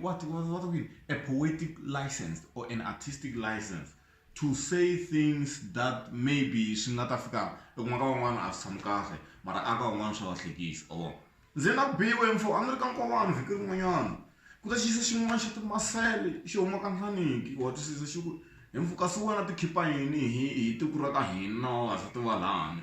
what what what we a poetic license or an artistic license to say things that maybe swi nga ta fika ekun'wana ka van'wana a swi tshami kahle mara a ka van'wana swa va hlekisa or ndzi na biwe mfo a ni ri ka nkowani vhiki rin'wanyana ku ta xiyisa xin'wana xa timasele xi huma ka nhlaniki wa twisisa xi ku hi mfo kasi wena ti khipa yini hi hi tiko ra ka hina wa ha swi tiva lani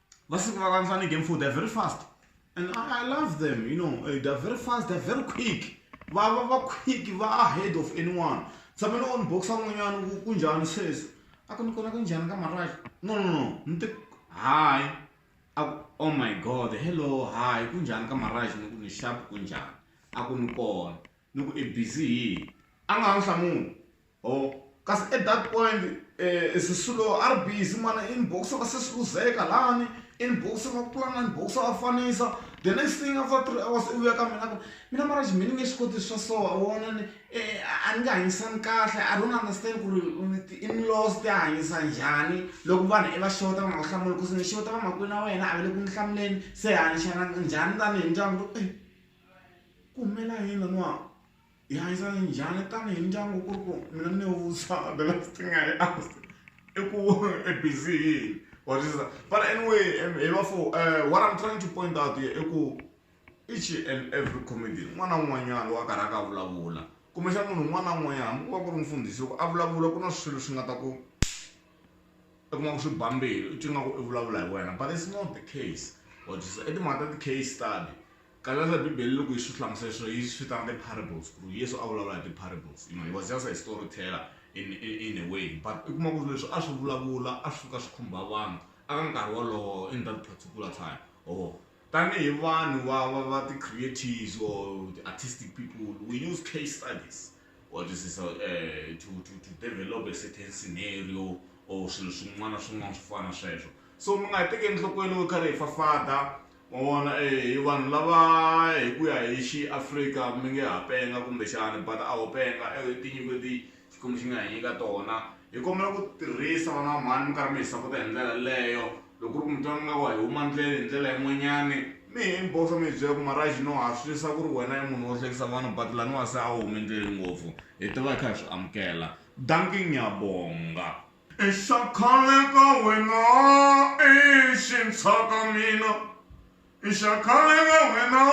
Vasiko vakafanana game four they're very fast and I, I love them you know eh, they're very fast they're very quick vava va quick va ahead of anyone tshame ni on boxa n'wanyana ku ku njhani sweswi a ku ni kona ku njhani ka maraxa no no no ni te hayi a ku oh my god hello hayi ku njhani ka maraxa ni ku ni xapu ku njhani a ku ni kona ni ku i busy hi a nga ha ni hlamuli Oh, kasi at that point eh, sisulu rb simane inboxa ka sesiluzeka lani inboxa ka pulana inboxa ka fanisa the next thing after three hours i vuya ka mina ku mina mara xi mini nge swi koti swa so a wona ni eh, a ni nga hanyisani kahle i don't understand ku ri ti-inlaws ti hanyisa njhani loko vanhu i va xota va nga ku hlamuli kusi ni xota vamakwini na wena a ve le ku ni hlamuleni se hanyixana njhani tanihi ndyangu ku eh, ku humela yini laniwa hi hanyisana njhani tanihi ndyangu ku ri ku mina ni wusa the last thing I asked i ku i busy hi yini or this that. but anyway em, hi va fo eh, what I'm trying to point out here i ku each and every comedy n'wana un'wanyana loyi a karhi a ka a vulavula kumbexana munhu un'wana na un'wanyana hambi ku va ku ri mfundhisi loko a vulavula ku na swilo swi nga ta ku i kuma ku swi ba mbilu i twi nga ku i vulavula hi wena but it's not the case or just i timhaka ta ti-case study Kalandza bibele loko yiswi hlamusela leswi yi swi vitana ti parables ku ri yesu a vulavula hi ti parables you know he was just a story teller in in in a way but i kuma ku ri leswi a swi vulavula a swi fika swi khumba vanhu a ka nkarhi wolowo in that particular time or tanihi vanhu va va va ti creatives or the artistic people we use case studies what is this, uh, to, to, to develop a certain scenario or swilo swin'wana swin'wana swo fana sweswo so mi nga hi tekeli nhlokweni wo karhi hi fafada Ma vona e hi vanhu lava hi ku ya hi xi Afrika mi nge ha penga kumbe xana but a ho penga e tinyiko leti Xikwembu xi nga hi nyika tona hi kombela ku tirhisa vana va mhani mi karhi mi hi sapota hi ndlela yaleyo loko ku ri mi twa mi nga ku a hi huma ndlele hi ndlela yin'wanyani mi hi mbhosa mi hi byela ku Maraj no ha switwisisa ku ri wena i munhu wo hlekisa vanhu but laniwa se a wu humi ndleleni ngopfu hi ta va hi kha hi swi amukela dankie ngyabonga. Ishakale ka wena i xintshwa ka mina, Ishakale ka wena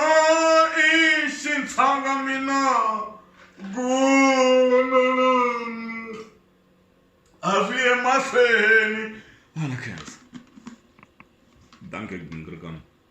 i xintshwa ka mina, Gunu a swi ye mahlweni. Hala khensa. Dankie Gingrikam.